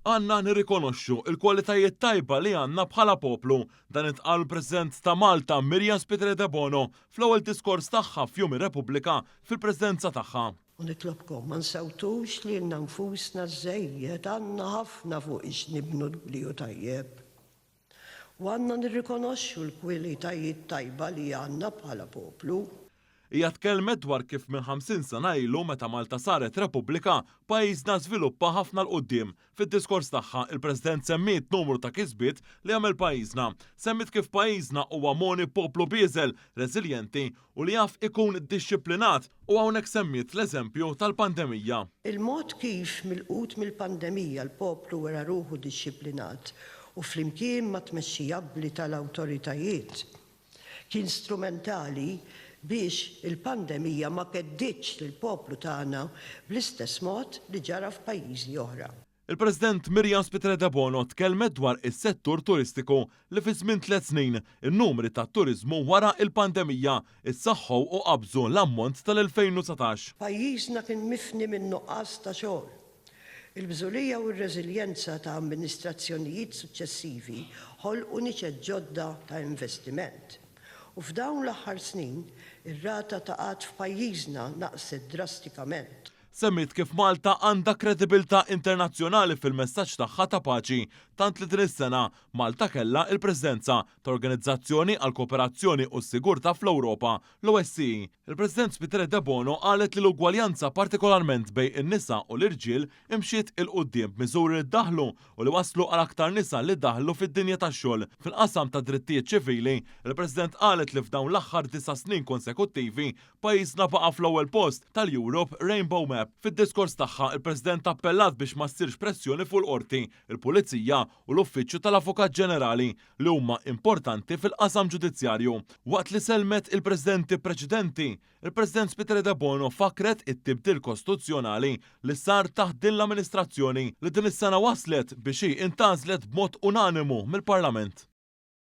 Għandna nirrikonoxxu l-kwalitajiet tajba li għandna bħala poplu. Dan intqal mill-President ta' Malta, Miriam Spiteri Debono, fl-ewwel diskors tagħha f'Jum ir-Repubblika fil-preżenza tagħha. U nitlobkom ma nsewtux lilna nfusna żżejjed, għandna ħafna fuq x'nibnu l-bliu tajjeb. U għandna nirrikonoxxu l-kwilitajiet tajba li għandna bħala poplu. Hija tkellmet dwar kif minn ħamsin sena ilu meta Malta saret Repubblika, pajjiżna żviluppa ħafna 'l quddiem. Fid-diskors tagħha, il-President semmiet numru ta' kisbiet li għamel pajjiżna. Semmiet kif pajjiżna huwa mogħni b'poplu bieżel, reżiljenti u li jaf ikun dixxiplinat u hawnhekk semmiet l-eżempju tal-pandemija. Il-mod kif milqut mill-pandemija l-poplu wera ruħu dixxiplinat u flimkien mat-tmexxija abbli tal-awtoritajiet kien strumentali biex il-pandemija ma kedditx lill-poplu tagħna bl-istess mod li ġara f'pajjiżi oħra. Il-President Miriam Spiteri Debono tkellmet dwar is-settur turistiku li fi żmien tliet snin in-numri tat-turiżmu wara l-pandemija ssaħħu u qabżu l-ammont tal-2019. Pajjiżna kien mifni minn nuqqas ta' xogħol. Il-bżulija u r-reżiljenza ta' amministrazzjonijiet suċċessivi ħolqu niċeċ ġodda ta' investiment. U f'dawn l-aħħar snin, ir-rata ta' qgħad f'pajjiżna naqset drastikament. Semmiet kif Malta għandha kredibilità internazzjonali fil-messaġġ tagħha ta' paċi, tant li din is-sena Malta kellha l-Presidenza ta' Organizzazzjoni għall-Kooperazzjoni u s-Sigurtà fl-Ewropa, l-OSCE. Il-President Spiteri Debono qalet li l-ugwaljanza partikolarment bejn in-nisa u l-irġiel imxiet 'il quddiem b'miżuri li ddaħħlu u li wasslu għal aktar nisa li daħlu fid-dinja tax-xogħol. Fil-qasam tad-drittijiet ċivili, il-President qalet li f'dawn l-aħħar disa' snin konsekuttivi, Pajjiżna baqa' fl-ewwel post tal-Europe Rainbow Map. Fid-diskors tagħha, il-President appellat biex ma ssirx pressjoni fuq il-Qorti, il-Pulizija u l-Uffiċċju tal-Avukat Ġenerali, li huma importanti fil-qasam ġudizzjarju. Waqt li sellmet il-Presidenti preċedenti, il-President Spiteri Debono fakkret it-tibdil kostituzzjonali li sar taħt din l-amministrazzjoni li din is-sena wasslet biex hi intgħażlet b'mod unanimu mill-Parlament.